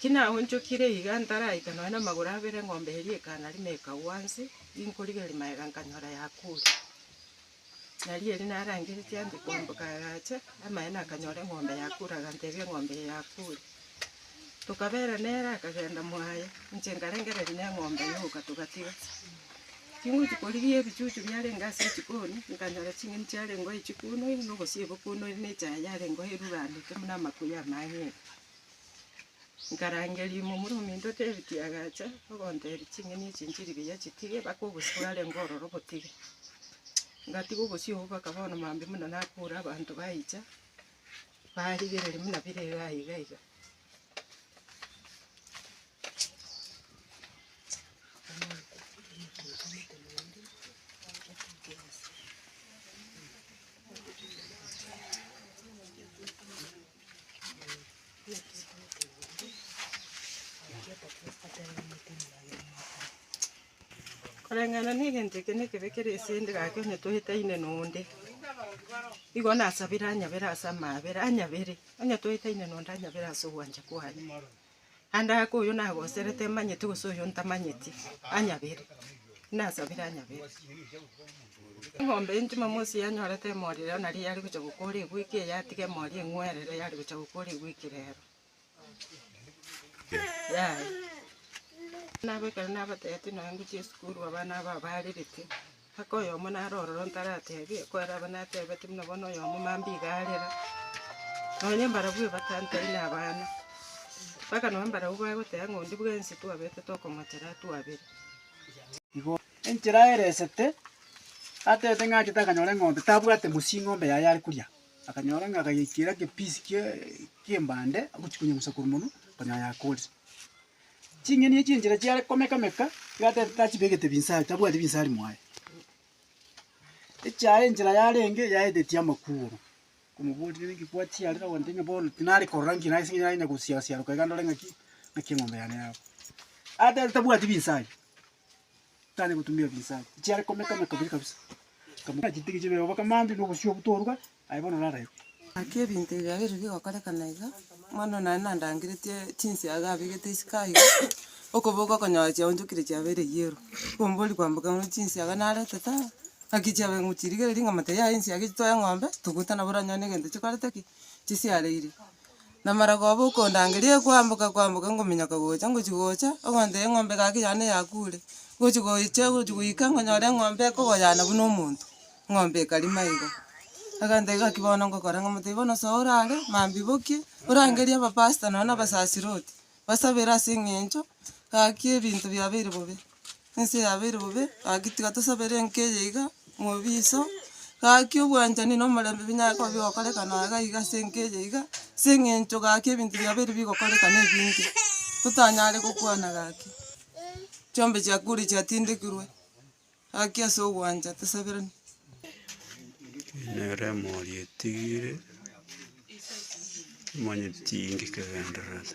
Tinaonchokire iga ntaraita nonya namagoro abere eng'ombe eria ekana rimo ekagwa nse, inkorigereria magega nkanyora yakuure. Nario erio narangeretie ande koamboka agacha amaene akanyora eng'ombe yakuure agantebia eng'ombe eye yakuure. Tokabera nere akagenda mwaye inche nkarengereria neng'ombe yoka togatiga. Tingochia korigia ebichuchu biarenge ase echikoni nkanyora ching'eni chiarenge oo chikunoi na ogosiebe okunoi na echaye yarenge oo eruranete buna amakuya amanyinga. Nkarangeria omomura ominto David agacha, ogontebia, Ching'eni echi nchirigiya chitige, mpaka obosio bwarenge ororo botige. Ngatiga obosio obwo mpaka bono maambia buna nakure abanto baicha, barigereria buna bire iga aye iga iga. Koreng'ana negento eke nekebe kere ase inde gaki onye toetaine nonde, igo nasabere anyabere ase amaabera, anyabere, onye toetaine nonde anyabere ase ogwancha kwane. Naende ake oyo nagoserete emanyeti gose oyo ntamanyeti anyabere, nasabire anyabere. Eng'ombe eye Jumamosi yanyorete emori rero naria yare gocha gokora egweki eye yatiga emori eng'werere yare gocha gokora egweki rero. Yaya. Nabo ekero nabatebitie nonya ngochia esukuru abana aba abarerete. Aka oyomo nare ororo ntaratebi, ekero abe natebeti buna bono oyomo mambia iga arera, nonya mbarabwo ebatantai na abana, mpaka nonya mbarabwo bagoteba ng'a onde bwensi twabete tokomotera twabere. Enchera ere esete, atebete ng'a achete akanyora eng'ombe, tabwate mosii ng'ombe yaye are koria, akanyora ng'a akayekera egepiece kie kiembande, agochia konyeng'usa korwa monwe, okonyora yakorire. Ching'eni echio enchera chiare komeka-meka, iga ta- tachibegete binsa- tabwati binsari mwaye. Echiaye enchera yarenge yaetetie amakuru, okomoboria naki kwachia aroro ogoteba ng'a bono tinare korora nki nase eng'encho nare ng'ina gosiara siaroka iga ndore ng'aki, ng'aki eng'ombe yane yabo. Ateba tabwati binsa aria. tari gotumia ebinsa ebi, chiare komeka meka buya kabisa. Nkamotebia chitigi chibe oboke mambia na obosio obwo toruga, aye bono orarebe. Naki ebinto ebi biabeire bigokorekana iga, mbono nare nandangeretie chinsiaga abegete isiko aiga, okoboka okonyora chiaonchokire chiabeire yellow. Okombori kwamboka ng'ore chinsiaga narete ta, naki chiabeire ngochirigereria nkamotebia yaya ensiaga echi toe eng'ombe, togote nabo oranyore negento chikorete ki? chisiareire. Namara koba okondangeria ekwamboka kwamboka ngominyoka gocha ngochia gocha, ogontebia eng'ombe egaki yane yakure, ngochia gocha ngochia goika ngonyora eng'ombe ekogoyana buna omonto, eng'ombe ekarima igo. Agantebia gaki bono ngokora ng'a motibe bono soa orare, mambia bokie, orangerie abapastor nonya na abasasiroti, basabere ase eng'encho gaki ebinto biabeire bobe. ense yabeire bobe, gaki tiga tosabere enka eye iga, mobiso, gaki obwanchani na omorembe binyare koba bigokorekana aye iga iga ase enka eye iga, ase eng'encho gaki ebinto biabeire bigokorekana ebinge, totanyare gokwana gaki. Chiombe chia kure chiatindekirwe, gaki ase ogwancha tosaberane. Nere emori etigire, omanyete tiinki kegendererete.